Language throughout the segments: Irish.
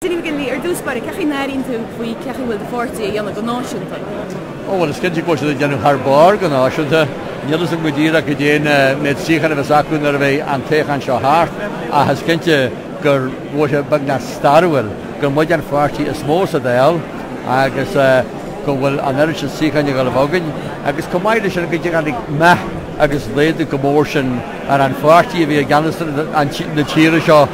Dinny McGinley, Ar dtús báire, cén chaoi a n-airíonn tú faoin gcaoi a bhfuil do pháirtí ag déanamh go náisiúnta? Ó bhuel, is cinnte go bhfuil siad ag déanamh thar barr go náisiúnta. Níl a fhios agam go díreach goidé an méid suíochán a bheas acu nuair a bheidh an toghchán seo thart, ach is cinnte go bhfuil sé beagnach stairiúil gur muid an pháirtí is mó sa Dáil agus go bhfuil an oiread sin suíocháin ag gabháil a bheith againn agus chomh maith leis sin go dtáinig meath agus laghdú chomh mór sin ar an pháirtí a bhí i gceannas na tíre seo.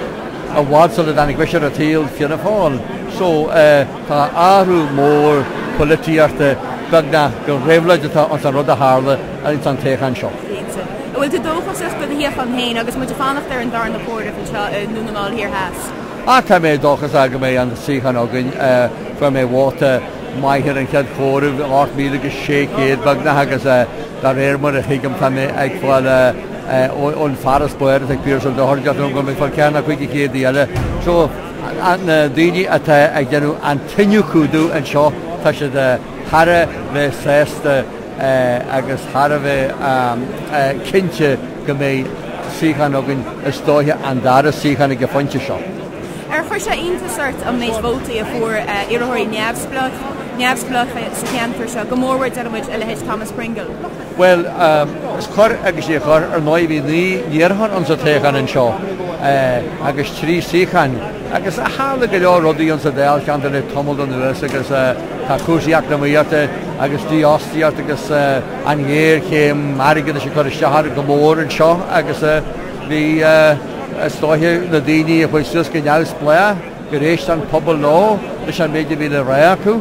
I bhfad sula dtáinig mise ar an tsaol, Fianna Fáil, so eh tá athrú mór poilitíochta, beagnach gur réabhlóid atá ins an rud a tharla ins an toghchán seo. Cinnte. An bhfuil tú dóchasach do do shuíochán féin agus muid ag fanacht ar an darna comhaireamh anseo i nDún na nGall Thiar Theas? Ah tá mé dóchasach go mbeidh an suíochán againn, eh fuair mé vóta maith ar an chéad chomhaireamh, 8,600 beagnach agus eh dá réir mar a thuigim tá mé ag fáil eh ón farasbarr atá ag Piaras Ó Dochartaigh go mbeidh mé ag fáil ceathair nó cúig de chéadta eile. So, na daoine atá ag déanamh an t-iniúchadh anseo, tá siad thar a bheith sásta agus thar a bheith cinnte go mbeidh suíochán againn, is dóiche an dara suíochán ag an phointe seo. Ar chuir sé iontas ort an méid vótaí a fuair iarrthóirí neamhspleácha sa cheantar seo, go mórmhór deirimid a leithéid Thomas Pringle? Bhuel, chuir agus níor chuir, ar ndóigh, bhí naoi n-iarrthóir ins an toghchán anseo agus trí suíochán agus tharla go leor rudaí ins an Dáilcheantar le tamall anuas agus tá cúrsaí eacnamaíochta agus dífhostaíocht agus an ghéarchéim airgeadais ag cur isteach orainn go mór anseo agus bhí, is dóiche, na daoine a chuaigh suas go neamhspleách gur éist an pobal leo leis an méid a bhí le rá acu.